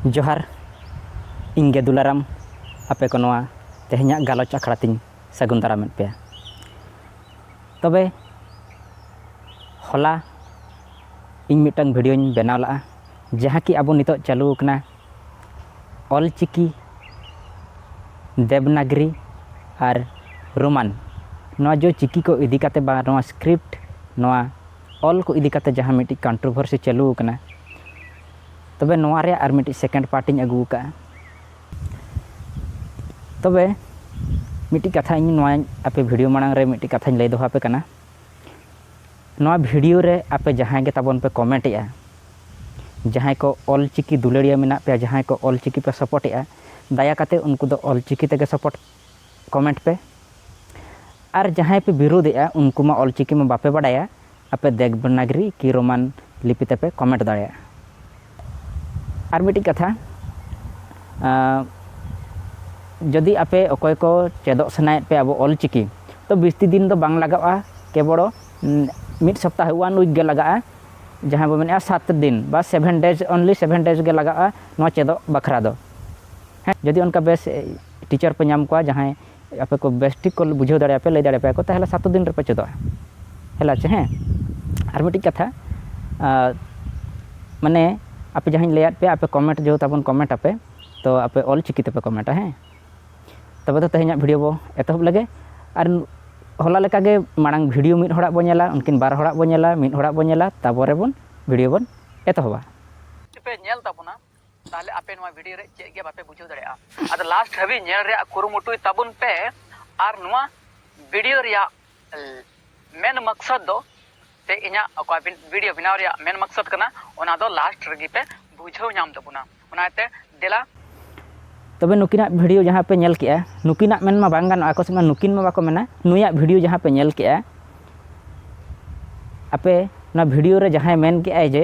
ᱡᱚᱦᱟᱨ ᱤᱧ ᱜᱮ ᱫᱩᱞᱟᱨᱟᱢ ᱟᱯᱮ ᱠᱚ ᱱᱚᱣᱟ ᱛᱮᱦᱮᱧᱟᱜ ᱜᱟᱞᱚᱪ ᱟᱠᱷᱲᱟ ᱛᱤᱧ ᱥᱟᱹᱜᱩᱱ ᱫᱟᱨᱟᱢᱮᱫ ᱯᱮᱭᱟ ᱛᱚᱵᱮ ᱦᱚᱞᱟ ᱤᱧ ᱢᱤᱫᱴᱟᱝ ᱵᱷᱤᱰᱤᱭᱳᱧ ᱵᱮᱱᱟᱣ ᱞᱟᱜᱼᱟ ᱡᱟᱦᱟᱸ ᱠᱤ ᱟᱵᱚ ᱱᱤᱛᱚᱜ ᱪᱟᱹᱞᱩ ᱟᱠᱟᱱᱟ ᱚᱞ ᱪᱤᱠᱤ ᱫᱮᱵᱽᱱᱟᱜᱽᱨᱤ ᱟᱨ ᱨᱳᱢᱟᱱ ᱱᱚᱣᱟ ᱡᱮ ᱪᱤᱠᱤ ᱠᱚ ᱤᱫᱤ ᱠᱟᱛᱮᱫ ᱵᱟ ᱱᱚᱣᱟ ᱥᱠᱨᱤᱯᱴ ᱱᱚᱣᱟ ᱚᱞ ᱠᱚ ᱤᱫᱤ ᱠᱟᱛᱮ ᱡᱟᱦᱟᱸ ᱢᱤᱫᱴᱤᱡ ᱠᱚᱱᱴᱨᱚᱵᱷᱟᱨᱥᱤ ᱪᱟᱹᱞᱩ ᱟᱠᱟᱱᱟ ᱛᱚᱵᱮ ᱱᱚᱣᱟ ᱨᱮᱭᱟᱜ ᱟᱨ ᱢᱤᱫᱴᱤᱡ ᱥᱮᱠᱮᱱᱰ ᱯᱟᱨᱴ ᱤᱧ ᱟᱹᱜᱩ ᱟᱠᱟᱫᱼᱟ ᱛᱚᱵᱮ ᱢᱤᱫᱴᱤᱡ ᱠᱟᱛᱷᱟ ᱤᱧ ᱱᱚᱣᱟ ᱟᱯᱮ ᱵᱷᱤᱰᱤᱭᱳ ᱢᱟᱲᱟᱝ ᱨᱮ ᱢᱤᱫᱴᱤᱡ ᱠᱟᱛᱷᱟᱧ ᱞᱟᱹᱭ ᱫᱚᱦᱚ ᱟᱯᱮ ᱠᱟᱱᱟ ᱱᱚᱣᱟ ᱵᱷᱤᱰᱤᱭᱳ ᱨᱮ ᱟᱯᱮ ᱡᱟᱦᱟᱸᱭ ᱜᱮ ᱛᱟᱵᱚᱱ ᱯᱮ ᱠᱚᱢᱮᱱᱴ ᱮᱜᱼᱟ ᱡᱟᱦᱟᱸᱭ ᱠᱚ ᱚᱞ ᱪᱤᱠᱤ ᱫᱩᱞᱟᱹᱲᱤᱭᱟᱹ ᱢᱮᱱᱟᱜ ᱯᱮᱭᱟ ᱡᱟᱦᱟᱸᱭ ᱠᱚ ᱚᱞ ᱪᱤᱠᱤ ᱯᱮ ᱥᱟᱯᱚᱨᱴ ᱮᱜᱼᱟ ᱫᱟᱭᱟ ᱠᱟᱛᱮ ᱩᱱᱠᱩ ᱫᱚ ᱚᱞ ᱪᱤᱠᱤ ᱛᱮᱜᱮ ᱥᱟᱯᱚᱨᱴ ᱠᱚᱢᱮᱱᱴ ᱯᱮ ᱟᱨ ᱡᱟᱦᱟᱸᱭ ᱯᱮ ᱵᱤᱨᱩᱫᱷ ᱮᱜᱼᱟ ᱩᱱᱠᱩ ᱢᱟ ᱚᱞ ᱪᱤᱠᱤ ᱢᱟ ᱵᱟᱯᱮ ᱵᱟᱰᱟᱭᱟ ᱟᱯᱮ ᱫᱮᱵᱽᱱᱟᱜᱽᱨᱤ ᱠᱤ ᱨᱳᱢᱟᱱ ᱞᱤᱯᱤ ᱛᱮᱯᱮ ᱠᱚᱢᱮᱱᱴ ᱫᱟᱲᱮᱭᱟᱜᱼᱟ ᱟᱨ ᱢᱤᱫᱴᱤᱡ ᱠᱟᱛᱷᱟ ᱡᱚᱫᱤ ᱟᱯᱮ ᱚᱠᱚᱭ ᱠᱚ ᱪᱮᱫᱚᱜ ᱥᱟᱱᱟᱭᱮᱫ ᱯᱮ ᱟᱵᱚ ᱚᱞ ᱪᱤᱠᱤ ᱛᱚ ᱵᱤᱥᱛᱤ ᱫᱤᱱ ᱫᱚ ᱵᱟᱝ ᱞᱟᱜᱟᱜᱼᱟ ᱠᱮᱵᱚᱲ ᱢᱤᱫ ᱥᱚᱯᱛᱟᱦᱚ ᱳᱣᱟᱱ ᱩᱭᱤᱠ ᱜᱮ ᱞᱟᱜᱟᱜᱼᱟ ᱡᱟᱦᱟᱸ ᱵᱚ ᱢᱮᱱᱮᱜᱼᱟ ᱥᱟᱛ ᱫᱤᱱ ᱵᱟ seven days only seven days ᱜᱮ ᱞᱟᱜᱟᱜᱼᱟ ᱱᱚᱣᱟ ᱪᱮᱫᱚᱜ ᱵᱟᱠᱷᱨᱟ ᱫᱚ ᱦᱮᱸ ᱡᱚᱫᱤ ᱚᱱᱠᱟ ᱵᱮᱥ ᱴᱤᱪᱟᱨ ᱯᱮ ᱧᱟᱢ ᱠᱚᱣᱟ ᱡᱟᱦᱟᱸᱭ ᱟᱯᱮ ᱠᱚ ᱵᱮᱥ ᱴᱷᱤᱠ ᱠᱚ ᱵᱩᱡᱷᱟᱹᱣ ᱫᱟᱲᱮ ᱟᱯᱮ ᱞᱟᱹᱭ ᱫᱟᱲᱮ ᱟᱯᱮᱭᱟ ᱠᱚ ᱛᱟᱦᱚᱞᱮ ᱥᱟᱛ ᱫᱤᱱ ᱨᱮᱯᱮ ᱪᱮᱫᱚᱜᱼᱟ ᱦᱮᱞᱟ ᱪᱮ ᱦᱮᱸ ᱟᱨ ᱢᱤᱫᱴᱤᱡ ᱠᱟᱛᱷᱟ ᱢᱟᱱᱮ ᱟᱯᱮ ᱡᱟᱦᱟᱸᱧ ᱞᱟᱹᱭᱟᱫ ᱯᱮᱭᱟ ᱟᱯᱮ ᱠᱚᱢᱮᱱᱴ ᱡᱮᱦᱮᱛᱩ ᱛᱟᱵᱚᱱ ᱠᱚᱢᱮᱱᱴ ᱟᱯᱮ ᱛᱚ ᱟᱯᱮ ᱚᱞ ᱪᱤᱠᱤ ᱛᱮᱯᱮ ᱠᱚᱢᱮᱱᱴᱟ ᱦᱮᱸ ᱛᱚᱵᱮ ᱫᱚ ᱛᱮᱦᱮᱧᱟᱜ ᱵᱷᱤᱰᱤᱭᱳ ᱵᱚ ᱮᱛᱚᱦᱚᱵ ᱞᱮᱜᱮ ᱟᱨ ᱦᱚᱞᱟ ᱞᱮᱠᱟᱜᱮ ᱢᱟᱲᱟᱝ ᱵᱷᱤᱰᱤᱭᱳ ᱢᱤᱫ ᱦᱚᱲᱟᱜ ᱵᱚ ᱧᱮᱞᱟ ᱩᱱᱠᱤᱱ ᱵᱟᱨ ᱦᱚᱲᱟᱜ ᱵᱚ ᱧᱮᱞᱟ ᱢᱤᱫ ᱦᱚᱲᱟᱜ ᱵᱚ ᱧᱮᱞᱟ ᱛᱟᱨᱯᱚᱨᱮ ᱵᱚᱱ ᱵᱷᱤᱰᱤᱭᱳ ᱵᱚᱱ ᱮᱛᱚᱦᱚᱵᱟ ᱯᱮ ᱧᱮᱞ ᱛᱟᱵᱚᱱᱟ ᱛᱟᱦᱞᱮ ᱟᱯᱮ ᱱᱚᱣᱟ ᱵᱷᱤᱰᱤᱭᱳ ᱨᱮ ᱪᱮᱫ ᱜᱮ ᱵᱟᱯᱮ ᱵᱩᱡᱷᱟᱹᱣ ᱫᱟᱲᱮᱭᱟᱜᱼᱟ ᱟᱫᱚ ᱞᱟᱥᱴ ᱦᱟᱹᱵᱤᱡ ᱧᱮᱞ ᱨᱮᱭᱟᱜ ᱠᱩᱨᱩᱢᱩᱴᱩᱭ ᱛᱟᱵᱚᱱ ᱯᱮ ᱟᱨ ᱱᱚᱣᱟ ᱵᱷᱤᱰᱤᱭᱳ ᱨᱮᱭᱟᱜ ᱢᱮᱱ ᱢᱟᱠᱥᱟᱫ ᱫᱚ ᱥᱮ ᱤᱧᱟᱹᱜ ᱚᱠᱟ ᱵᱷᱤᱰᱤᱭᱳ ᱵᱮᱱᱟᱣ ᱨᱮᱭᱟᱜ ᱢᱮᱱ ᱢᱟᱠᱥᱟᱫ ᱠᱟᱱᱟ ᱚᱱᱟ ᱫᱚ ᱞᱟᱥᱴ ᱨᱮᱜᱮ ᱯᱮ ᱵᱩᱡᱷᱟᱹᱣ ᱧᱟᱢ ᱛᱟᱵᱚᱱᱟ ᱚᱱᱟᱛᱮ ᱫᱮᱞᱟ ᱛᱚᱵᱮ ᱱᱩᱠᱤᱱᱟᱜ ᱵᱷᱤᱰᱤᱭᱳ ᱡᱟᱦᱟᱸ ᱯᱮ ᱧᱮᱞ ᱠᱮᱜᱼᱟ ᱱᱩᱠᱤᱱᱟᱜ ᱢᱮᱱ ᱢᱟ ᱵᱟᱝ ᱜᱟᱱᱚᱜᱼᱟ ᱟᱠᱚ ᱥᱮᱫ ᱢᱟ ᱱᱩᱠᱤᱱ ᱢᱟ ᱵᱟᱠᱚ ᱢᱮᱱᱟ ᱱᱩᱭᱟᱜ ᱵᱷᱤᱰᱤᱭᱳ ᱡᱟᱦᱟᱸ ᱯᱮ ᱧᱮᱞ ᱠᱮᱜᱼᱟ ᱟᱯᱮ ᱱᱚᱣᱟ ᱵᱷᱤᱰᱤᱭᱳ ᱨᱮ ᱡᱟᱦᱟᱸᱭ ᱢᱮᱱ ᱠᱮᱜᱼᱟᱭ ᱡᱮ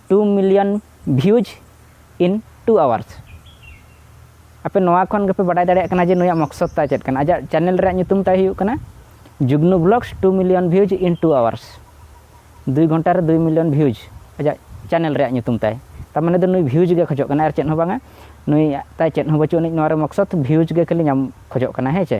two million views in two hours ᱟᱯᱮ ᱱᱚᱣᱟ ᱠᱷᱚᱱ ᱜᱮᱯᱮ ᱵᱟᱰᱟᱭ ᱫᱟᱲᱮᱭᱟᱜ ᱠᱟᱱᱟ ᱡᱮ ᱱᱩᱭᱟᱜ ᱢᱚᱠᱥᱚᱫ ᱛᱟᱭ ᱪᱮᱫ ᱠᱟᱱᱟ ᱟᱡᱟᱜ ᱪᱮᱱᱮᱞ ᱨᱮᱭᱟᱜ ᱧᱩᱛᱩᱢ ᱛᱟᱭ ᱦᱩᱭᱩᱜ ᱠᱟᱱᱟ Jugnu blogs two million views in two hours ᱫᱩᱭ ᱜᱷᱚᱱᱴᱟ ᱨᱮ ᱫᱩᱭ ᱢᱤᱞᱤᱭᱚᱱ ᱵᱷᱤᱭᱩᱡᱽ ᱟᱡᱟᱜ ᱪᱮᱱᱮᱞ ᱨᱮᱭᱟᱜ ᱧᱩᱛᱩᱢ ᱛᱟᱭ ᱛᱟᱨ ᱢᱟᱱᱮ ᱫᱚ ᱱᱩᱭ ᱵᱷᱤᱭᱩᱡᱽ ᱜᱮ ᱠᱷᱚᱡᱚᱜ ᱠᱟᱱᱟ ᱟᱨ ᱪᱮᱫ ᱦᱚᱸ ᱵᱟᱝᱟ ᱱᱩᱭ ᱛᱟᱭ ᱪᱮᱫ ᱦᱚᱸ ᱵᱟᱹᱪᱩᱜ ᱟᱹᱱᱤᱡ ᱱᱚᱣᱟ ᱨᱮ ᱢᱚᱠᱥᱚᱫ ᱵᱷᱤᱭᱩᱡᱽ ᱜᱮ ᱠᱷᱟᱹᱞᱤ ᱧᱟᱢ ᱠᱷᱚᱡᱚᱜ ᱠᱟᱱᱟ ᱦᱮᱸ ᱪᱮ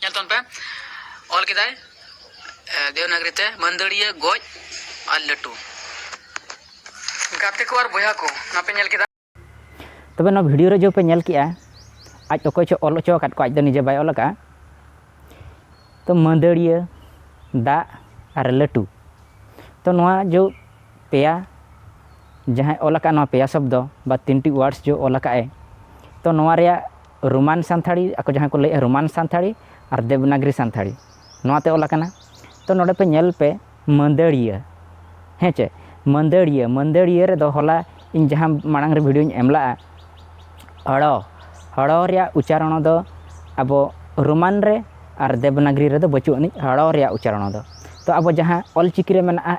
ᱧᱮᱞ ᱛᱟᱵᱚᱱ ᱯᱮ ᱚᱞ ᱠᱮᱫᱟᱭ ᱫᱮᱣᱱᱟᱜᱨᱤ ᱛᱮ ᱢᱟᱹᱱᱫᱟᱹᱲᱤᱭᱟᱹ ᱜᱚᱡ ᱟᱨ ᱞᱟᱹᱴᱩ ᱜᱟᱛᱮ ᱠᱚ ᱟᱨ ᱵᱚᱭᱦᱟ ᱠᱚ ᱱᱚᱣᱟ ᱯᱮ ᱧᱮᱞ ᱠᱮᱫᱟ ᱛᱚᱵᱮ ᱱᱚᱣᱟ ᱵᱷᱤᱰᱤᱭᱳ ᱨᱮ ᱡᱚ ᱯᱮ ᱧᱮᱞ ᱠᱮᱜᱼᱟ ᱟᱡ ᱚᱠᱚᱭ ᱪᱚ ᱚᱞ ᱦᱚᱪᱚ ᱟᱠᱟᱫ ᱠᱚ ᱟᱡ ᱫᱚ ᱱᱤᱡᱮ ᱵᱟᱭ ᱚᱞ ᱟᱠᱟᱫᱼᱟ ᱛᱚ ᱢᱟᱹᱫᱟᱹᱲᱤᱭᱟᱹ ᱫᱟᱜ ᱟᱨ ᱞᱟᱹᱴᱩ ᱛᱚ ᱱᱚᱣᱟ ᱡᱚ ᱯᱮᱭᱟ ᱡᱟᱦᱟᱸᱭ ᱚᱞ ᱟᱠᱟᱫ ᱱᱚᱣᱟ ᱯᱮᱭᱟ ᱥᱚᱵᱫᱚ ᱵᱟ ᱛᱤᱱᱴᱤ ᱣᱟᱨᱰᱥ ᱡᱚ ᱚᱞ ᱟᱠᱟᱫ ᱮ ᱛᱚ ᱱᱚᱣᱟ ᱨᱮᱭᱟᱜ ᱨᱳᱢᱟᱱ ᱥᱟᱱᱛᱷᱟᱲᱤ ᱟᱠᱚ ᱡᱟᱦᱟᱸ ᱠᱚ ᱞᱟᱹᱭᱮᱜᱼᱟ ᱨᱳᱢᱟᱱ ᱥᱟᱱᱛᱷᱟᱲᱤ ᱟᱨ ᱫᱮᱵᱽᱱᱟᱜᱽᱨᱤ ᱥᱟᱱᱛᱷᱟᱲᱤ ᱱᱚᱣᱟᱛᱮ ᱚᱞ ᱟᱠᱟᱱᱟ ᱛᱚ ᱱᱚᱰᱮ ᱯᱮ ᱧᱮᱞ ᱯᱮ ᱢᱟᱹᱫᱟᱹᱲᱤᱭᱟᱹ ᱦᱮᱸ ᱪᱮ ᱢᱟᱹᱫᱟᱹᱲᱤᱭᱟᱹ ᱢᱟᱹᱫᱟᱹᱲᱤᱭᱟᱹ ᱨᱮᱫᱚ ᱦᱚᱞᱟ ᱤᱧ ᱡᱟᱦᱟᱸ ᱢᱟᱲᱟᱝ ᱨᱮ ᱵᱷᱤᱰᱤᱭᱳᱧ ᱮᱢ ᱞᱟᱜᱼᱟ ᱦᱚᱲᱚ ᱦᱚᱲᱚ ᱨᱮᱭᱟᱜ ᱩᱪᱪᱟᱨᱚᱱ ᱫᱚ ᱟᱵᱚ ᱨᱳᱢᱟᱱ ᱨᱮ ᱟᱨ ᱫᱮᱵᱽᱱᱟᱜᱽᱨᱤ ᱨᱮᱫᱚ ᱵᱟᱹᱪᱩᱜ ᱟᱹᱱᱤᱡ ᱦᱚᱲᱚ ᱨᱮᱭᱟᱜ ᱩᱪᱪᱟᱨᱚᱱ ᱫᱚ ᱛᱚ ᱟᱵᱚ ᱡᱟᱦᱟᱸ ᱚᱞᱪᱤᱠᱤ ᱨᱮ ᱢᱮᱱᱟᱜᱼᱟ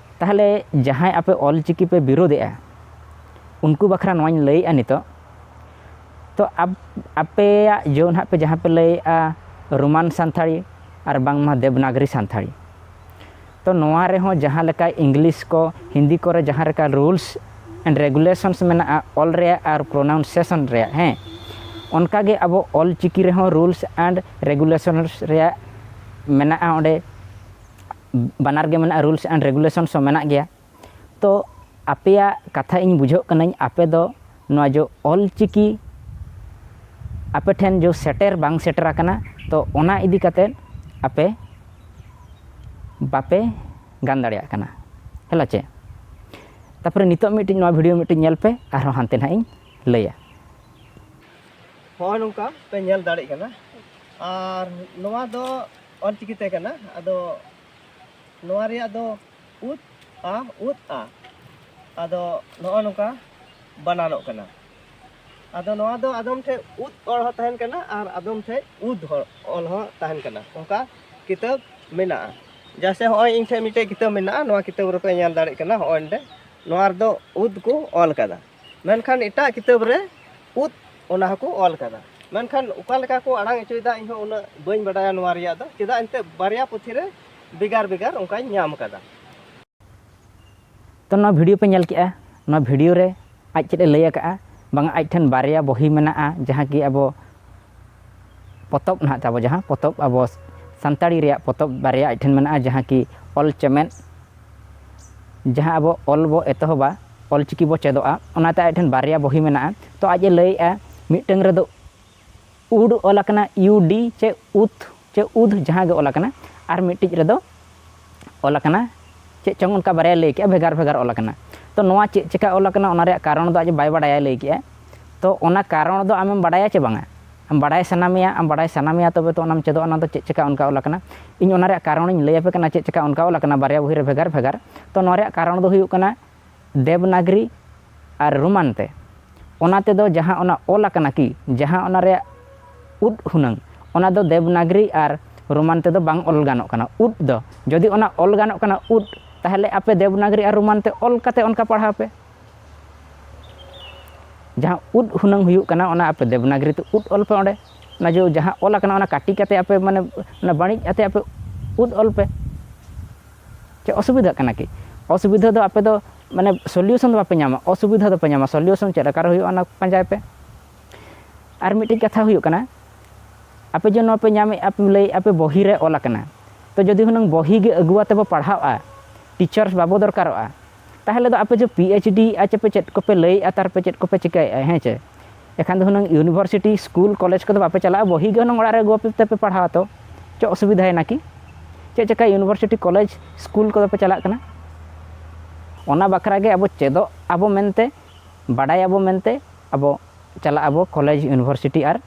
ᱛᱟᱦᱚᱞᱮ ᱡᱟᱦᱟᱸᱭ ᱟᱯᱮ ᱚᱞᱪᱤᱠᱤ ᱯᱮ ᱵᱤᱨᱳᱫᱮᱜᱼᱟ ᱩᱱᱠᱩ ᱵᱟᱠᱷᱨᱟ ᱱᱚᱣᱟᱧ ᱞᱟᱹᱭᱮᱜᱼᱟ ᱱᱤᱛᱚᱜ ᱛᱚ ᱟᱯᱮᱭᱟᱜ ᱡᱚ ᱱᱟᱦᱟᱜ ᱯᱮ ᱡᱟᱦᱟᱸ ᱯᱮ ᱞᱟᱹᱭᱮᱜᱼᱟ ᱨᱳᱢᱟᱱ ᱥᱟᱱᱛᱟᱲᱤ ᱟᱨ ᱵᱟᱝᱢᱟ ᱫᱮᱵᱽᱱᱟᱜᱽᱨᱤ ᱥᱟᱱᱛᱟᱲᱤ ᱛᱚ ᱱᱚᱣᱟ ᱨᱮᱦᱚᱸ ᱡᱟᱦᱟᱸ ᱞᱮᱠᱟ ᱤᱝᱞᱤᱥ ᱠᱚ ᱦᱤᱱᱫᱤ ᱠᱚᱨᱮ ᱡᱟᱦᱟᱸ ᱞᱮᱠᱟ ᱨᱩᱞᱥ ᱮᱱᱰ ᱨᱮᱜᱩᱞᱮᱥᱚᱱᱥ ᱢᱮᱱᱟᱜᱼᱟ ᱚᱞ ᱨᱮᱭᱟᱜ ᱟᱨ ᱯᱨᱚᱱᱟᱣᱩᱱᱥᱮᱥᱚᱱ ᱨᱮᱭᱟᱜ ᱦᱮᱸ ᱚᱱᱠᱟᱜᱮ ᱟᱵᱚ ᱚᱞᱪᱤᱠᱤ ᱨᱮᱦᱚᱸ ᱨᱩᱞᱥ ᱮᱱᱰ ᱨᱮᱜᱩᱞᱮᱥᱚᱱᱥ ᱨᱮᱭᱟᱜ ᱢᱮᱱᱟᱜᱼᱟ ᱚᱸᱰᱮ ᱵᱟᱱᱟᱨ ᱜᱮ ᱢᱮᱱᱟᱜᱼᱟ ᱨᱩᱞᱥ ᱮᱱᱰ ᱨᱮᱜᱩᱞᱮᱥᱚᱱ ᱦᱚᱸ ᱢᱮᱱᱟᱜ ᱜᱮᱭᱟ ᱛᱚ ᱟᱯᱮᱭᱟᱜ ᱠᱟᱛᱷᱟ ᱤᱧ ᱵᱩᱡᱷᱟᱹᱜ ᱠᱟᱹᱱᱟᱹᱧ ᱟᱯᱮ ᱫᱚ ᱱᱚᱣᱟ ᱡᱮ ᱚᱞ ᱪᱤᱠᱤ ᱟᱯᱮ ᱴᱷᱮᱱ ᱡᱮ ᱥᱮᱴᱮᱨ ᱵᱟᱝ ᱥᱮᱴᱮᱨ ᱟᱠᱟᱱᱟ ᱛᱚ ᱚᱱᱟ ᱤᱫᱤ ᱠᱟᱛᱮᱫ ᱟᱯᱮ ᱵᱟᱯᱮ ᱜᱟᱱ ᱫᱟᱲᱮᱭᱟᱜ ᱠᱟᱱᱟ ᱦᱮᱞᱟ ᱪᱮ ᱛᱟᱨᱯᱚᱨᱮ ᱱᱤᱛᱚᱜ ᱢᱤᱫᱴᱤᱡ ᱱᱚᱣᱟ ᱵᱷᱤᱰᱤᱭᱳ ᱢᱤᱫᱴᱤᱡ ᱧᱮᱞ ᱯᱮ ᱟᱨᱦᱚᱸ ᱦᱟᱱᱛᱮ ᱱᱟᱦᱟᱜ ᱤᱧ ᱞᱟᱹᱭᱟ ᱦᱚᱸᱜᱼᱚᱭ ᱱᱚᱝᱠᱟ ᱯᱮ ᱧᱮᱞ ᱫᱟᱲᱮᱜ ᱠᱟᱱᱟ ᱟᱨ ᱱᱚᱣᱟ ᱫᱚ ᱚᱞ ᱪᱤᱠᱤ ᱛᱟᱦᱮᱸ ᱠᱟᱱᱟ ᱟᱫᱚ ᱱᱚᱣᱟ ᱨᱮᱭᱟᱜ ᱫᱚ ᱩᱫ ᱟ ᱩᱫ ᱟ ᱟᱫᱚ ᱱᱚᱜᱼᱚ ᱱᱚᱝᱠᱟ ᱵᱟᱱᱟᱱᱚᱜ ᱠᱟᱱᱟ ᱟᱫᱚ ᱱᱚᱣᱟ ᱫᱚ ᱟᱫᱚᱢ ᱴᱷᱮᱡ ᱩᱫ ᱚᱞ ᱦᱚᱸ ᱛᱟᱦᱮᱱ ᱠᱟᱱᱟ ᱟᱨ ᱟᱫᱚᱢ ᱴᱷᱮᱡ ᱩᱫ ᱦᱚᱸ ᱚᱞ ᱦᱚᱸ ᱛᱟᱦᱮᱱ ᱠᱟᱱᱟ ᱚᱱᱠᱟ ᱠᱤᱛᱟᱹᱵ ᱢᱮᱱᱟᱜᱼᱟ ᱡᱟᱥᱮ ᱦᱚᱸᱜᱼᱚᱭ ᱤᱧ ᱴᱷᱮᱡ ᱢᱤᱫᱴᱮᱡ ᱠᱤᱛᱟᱹᱵ ᱢᱮᱱᱟᱜᱼᱟ ᱱᱚᱣᱟ ᱠᱤᱛᱟᱹᱵ ᱨᱮᱯᱮ ᱧᱮᱞ ᱫᱟᱲᱮᱭᱟᱜ ᱠᱟᱱᱟ ᱦᱚᱸᱜᱼᱚᱭ ᱱᱚᱸᱰᱮ ᱱᱚᱣᱟ ᱨᱮᱫᱚ ᱩᱫ ᱠᱚ ᱚᱞ ᱠᱟᱫᱟ ᱢᱮᱱᱠᱷᱟᱱ ᱮᱴᱟᱜ ᱠᱤᱛᱟᱹᱵ ᱨᱮ ᱩᱫ ᱚᱱᱟ ᱦᱚᱸᱠᱚ ᱚᱞ ᱠᱟᱫᱟ ᱢᱮᱱᱠᱷᱟᱱ ᱚᱠᱟ ᱞᱮᱠᱟ ᱠᱚ ᱟᱲᱟᱝ ᱚᱪᱚᱭᱮᱫᱟ ᱤᱧ ᱦᱚᱸ ᱩᱱᱟᱹᱜ ᱵᱟᱹᱧ ᱵᱟᱰᱟᱭᱟ ᱱᱚᱣᱟ ᱨᱮᱭᱟᱜ ᱫᱚ ᱪᱮᱫᱟᱜ ᱮᱱᱛᱮ ᱵᱟᱨᱭᱟ ᱯᱩᱛᱷᱤ ᱨᱮ ᱵᱷᱮᱜᱟᱨ ᱵᱷᱮᱜᱟᱨ ᱚᱱᱠᱟᱧ ᱧᱟᱢ ᱠᱟᱫᱟ ᱛᱚ ᱱᱚᱣᱟ ᱵᱷᱤᱰᱤᱭᱳ ᱯᱮ ᱧᱮᱞ ᱠᱮᱜᱼᱟ ᱱᱚᱣᱟ ᱵᱷᱤᱰᱤᱭᱳ ᱨᱮ ᱟᱡ ᱪᱮᱫ ᱮ ᱞᱟᱹᱭ ᱟᱠᱟᱜᱼᱟ ᱵᱟᱝ ᱟᱡ ᱴᱷᱮᱱ ᱵᱟᱨᱭᱟ ᱵᱚᱦᱤ ᱢᱮᱱᱟᱜᱼᱟ ᱡᱟᱦᱟᱸ ᱠᱤ ᱟᱵᱚ ᱯᱚᱛᱚᱵ ᱱᱟᱦᱟᱜ ᱛᱟᱵᱚ ᱡᱟᱦᱟᱸ ᱯᱚᱛᱚᱵ ᱟᱵᱚ ᱥᱟᱱᱛᱟᱲᱤ ᱨᱮᱭᱟᱜ ᱯᱚᱛᱚᱵ ᱵᱟᱨᱭᱟ ᱟᱡ ᱴᱷᱮᱱ ᱢᱮᱱᱟᱜᱼᱟ ᱡᱟᱦᱟᱸ ᱠᱤ ᱚᱞ ᱪᱮᱢᱮᱫ ᱡᱟᱦᱟᱸ ᱟᱵᱚ ᱚᱞ ᱵᱚ ᱮᱛᱚᱦᱚᱵᱟ ᱚᱞ ᱪᱤᱠᱤ ᱵᱚ ᱪᱮᱫᱚᱜᱼᱟ ᱚᱱᱟᱛᱮ ᱟᱡ ᱴᱷᱮᱱ ᱵᱟᱨᱭᱟ ᱵᱚᱦᱤ ᱢᱮᱱᱟᱜᱼᱟ ᱛᱚ ᱟᱡ ᱮ ᱞᱟᱹᱭᱮᱫᱼᱟ ᱢᱤᱫᱴᱟᱝ ᱨᱮᱫᱚ ᱩᱰ ᱚᱞ ᱟᱠᱟᱱᱟ ᱤᱭᱩ ᱰᱤ ᱪᱮ ᱩᱛ ᱪᱮ ᱩᱫ ᱡᱟᱦᱟᱸ ᱜᱮ ᱚᱞ ᱟᱠᱟᱱᱟ ᱟᱨ ᱢᱤᱫᱴᱤᱡ ᱨᱮᱫᱚ ᱚᱞ ᱟᱠᱟᱱᱟ ᱪᱮᱫ ᱪᱚᱝ ᱚᱱᱠᱟ ᱵᱟᱨᱭᱟ ᱞᱟᱹᱭ ᱠᱮᱜᱼᱟ ᱵᱷᱮᱜᱟᱨ ᱵᱷᱮᱜᱟᱨ ᱚᱞ ᱟᱠᱟᱱᱟ ᱛᱚ ᱱᱚᱣᱟ ᱪᱮᱫ ᱪᱤᱠᱟ ᱚᱞ ᱟᱠᱟᱱᱟ ᱚᱱᱟ ᱨᱮᱭᱟᱜ ᱠᱟᱨᱚᱱ ᱫᱚ ᱟᱡ ᱵᱟᱭ ᱵᱟᱲᱟᱭᱟ ᱞᱟᱹᱭ ᱠᱮᱜᱼᱟᱭ ᱛᱚ ᱚᱱᱟ ᱠᱟᱨᱚᱱ ᱫᱚ ᱟᱢᱮᱢ ᱵᱟᱲᱟᱭᱟ ᱪᱮ ᱵᱟᱝᱟ ᱟᱢ ᱵᱟᱰᱟᱭ ᱥᱟᱱᱟ ᱢᱮᱭᱟ ᱟᱢ ᱵᱟᱰᱟᱭ ᱥᱟᱱᱟ ᱢᱮᱭᱟ ᱛᱚᱵᱮ ᱛᱚ ᱚᱱᱟᱢ ᱪᱮᱫᱚᱜᱼᱟ ᱚᱱᱟ ᱫᱚ ᱪᱮᱫ ᱪᱤᱠᱟᱹ ᱚᱱᱠᱟ ᱚᱞ ᱟᱠᱟᱱᱟ ᱤᱧ ᱚᱱᱟ ᱨᱮᱭᱟᱜ ᱠᱟᱨᱚᱱ ᱤᱧ ᱞᱟᱹᱭ ᱟᱯᱮ ᱠᱟᱱᱟ ᱪᱮᱫ ᱪᱤᱠᱟᱹ ᱚᱱᱠᱟ ᱚᱞ ᱟᱠᱟᱱᱟ ᱵᱟᱨᱭᱟ ᱵᱚᱦᱤ ᱨᱮ ᱵᱷᱮᱜᱟᱨ ᱵᱷᱮᱜᱟᱨ ᱛᱚ ᱱᱚᱣᱟ ᱨᱮᱭᱟᱜ ᱠᱟᱨᱚᱱ ᱫᱚ ᱦᱩᱭᱩᱜ ᱠᱟᱱᱟ ᱫᱮᱵᱽᱱᱟᱜᱽᱨᱤ ᱟᱨ ᱨᱳᱢᱟᱱ ᱛᱮ ᱚᱱᱟ ᱛᱮᱫᱚ ᱡᱟᱦᱟᱸ ᱚᱱᱟ ᱚᱞ ᱟᱠᱟᱱᱟ ᱠᱤ ᱡᱟᱦᱟᱸ ᱚᱱᱟ ᱨᱮᱭᱟᱜ ᱩᱫ ᱦᱩᱱᱟᱹᱝ ᱚᱱᱟ ᱫᱚ ᱫᱮᱵᱽᱱᱟᱜᱽᱨᱤ ᱟᱨ ᱨᱳᱢᱟᱱ ᱛᱮᱫᱚ ᱵᱟᱝ ᱚᱞ ᱜᱟᱱᱚᱜ ᱠᱟᱱᱟ ᱩᱫ ᱫᱚ ᱡᱩᱫᱤ ᱚᱱᱟ ᱚᱞ ᱜᱟᱱᱚᱜ ᱠᱟᱱᱟ ᱩᱫ ᱛᱟᱦᱚᱞᱮ ᱟᱯᱮ ᱫᱮᱵᱽᱱᱟᱜᱽᱨᱤ ᱟᱨ ᱨᱳᱢᱟᱱ ᱛᱮ ᱚᱞ ᱠᱟᱛᱮᱫ ᱚᱱᱠᱟ ᱯᱟᱲᱦᱟᱣ ᱯᱮ ᱡᱟᱦᱟᱸ ᱩᱫ ᱦᱩᱱᱟᱹᱝ ᱦᱩᱭᱩᱜ ᱠᱟᱱᱟ ᱚᱱᱟ ᱟᱯᱮ ᱫᱮᱵᱽᱱᱟᱜᱨᱤ ᱛᱮ ᱩᱫ ᱚᱞ ᱯᱮ ᱚᱸᱰᱮ ᱚᱱᱟ ᱡᱮ ᱡᱟᱦᱟᱸ ᱚᱞ ᱟᱠᱟᱱᱟ ᱚᱱᱟ ᱠᱟᱹᱴᱤ ᱠᱟᱛᱮ ᱟᱯᱮ ᱢᱟᱱᱮ ᱚᱱᱟ ᱵᱟᱹᱲᱤᱡ ᱟᱛᱮ ᱟᱯᱮ ᱩᱫ ᱚᱞ ᱯᱮ ᱪᱮᱫ ᱚᱥᱩᱵᱤᱫᱷᱟᱜ ᱠᱟᱱᱟ ᱠᱤ ᱚᱥᱩᱵᱤᱫᱷᱟ ᱫᱚ ᱟᱯᱮ ᱫᱚ ᱢᱟᱱᱮ ᱥᱚᱞᱤᱭᱩᱥᱚᱱ ᱫᱚ ᱵᱟᱯᱮ ᱧᱟᱢᱟ ᱚᱥᱩᱵᱤᱫᱷᱟ ᱫᱚᱯᱮ ᱧᱟᱢᱟ ᱥᱚᱞᱤᱭᱩᱥᱚᱱ ᱪᱮᱫ ᱞᱮᱠᱟᱨᱮ ᱦᱩᱭᱩᱜᱼᱟ ᱚᱱᱟ ᱯᱟᱸᱡᱟᱭ ᱯᱮ ᱟᱨ ᱢᱤᱫᱴᱤᱡ ᱠᱟᱛᱷᱟ ᱦᱩᱭᱩᱜ ᱠᱟᱱᱟ ᱟᱯᱮ ᱡᱮ ᱱᱚᱣᱟ ᱯᱮ ᱧᱟᱢᱮᱫᱼᱟ ᱯᱮ ᱞᱟᱹᱭᱮᱫᱼᱟ ᱯᱮ ᱵᱚᱦᱤ ᱨᱮ ᱚᱞ ᱟᱠᱟᱱᱟ ᱛᱚ ᱡᱩᱫᱤ ᱦᱩᱱᱟᱹᱝ ᱵᱚᱦᱤ ᱜᱮ ᱟᱹᱜᱩ ᱠᱟᱛᱮ ᱵᱚ ᱯᱟᱲᱦᱟᱣᱼᱟ ᱴᱤᱪᱟᱨᱥ ᱵᱟᱵᱚ ᱫᱚᱨᱠᱟᱨᱚᱜᱼᱟ ᱛᱟᱦᱚᱞᱮ ᱫᱚ ᱟᱯᱮ ᱡᱮ ᱯᱤ ᱮᱭᱤᱪ ᱰᱤ ᱟᱨ ᱪᱮᱯᱮ ᱪᱮᱫ ᱠᱚᱯᱮ ᱞᱟᱹᱭᱮᱫᱼᱟ ᱛᱟᱨᱯᱮ ᱪᱮᱫ ᱠᱚᱯᱮ ᱪᱤᱠᱟᱹᱭᱮᱫᱼᱟ ᱦᱮᱸ ᱪᱮ ᱮᱠᱷᱟᱱ ᱫᱚ ᱦᱩᱱᱟᱹᱝ ᱤᱭᱩᱱᱤᱵᱷᱟᱨᱥᱤᱴᱤ ᱥᱠᱩᱞ ᱠᱚᱞᱮᱡᱽ ᱠᱚᱫᱚ ᱵᱟᱯᱮ ᱪᱟᱞᱟᱜᱼᱟ ᱵᱚᱦᱤ ᱜᱮ ᱦᱩᱱᱟᱹᱝ ᱚᱲᱟᱜ ᱨᱮ ᱟᱹᱜᱩ ᱠᱟᱛᱮᱫ ᱯᱮ ᱯᱟᱲᱦᱟᱣᱟ ᱛᱚ ᱪᱮᱫ ᱚᱥᱩᱵᱤᱫᱷᱟᱭᱮᱱᱟ ᱠᱤ ᱪᱮᱫ ᱪᱤᱠᱟᱹ ᱤᱭᱩᱱᱤᱵᱷᱟᱨᱥᱤᱴᱤ ᱠᱚᱞᱮᱡᱽ ᱥᱠᱩᱞ ᱠᱚᱫᱚ ᱯᱮ ᱪᱟᱞᱟᱜ ᱠᱟᱱᱟ ᱚᱱᱟ ᱵᱟᱠᱷᱨᱟ ᱜᱮ ᱟᱵᱚ ᱪᱮᱫᱚᱜ ᱟᱵᱚ ᱢᱮᱱᱛᱮ ᱵᱟᱰᱟᱭᱟᱵᱚ ᱢᱮᱱᱛᱮ ᱟᱵᱚ ᱪᱟᱞᱟᱜ ᱟᱵᱚ ᱠᱚᱞᱮᱡᱽ ᱤᱭᱩᱱᱤᱵᱷᱟᱨᱥᱤᱴᱤ ᱟᱨ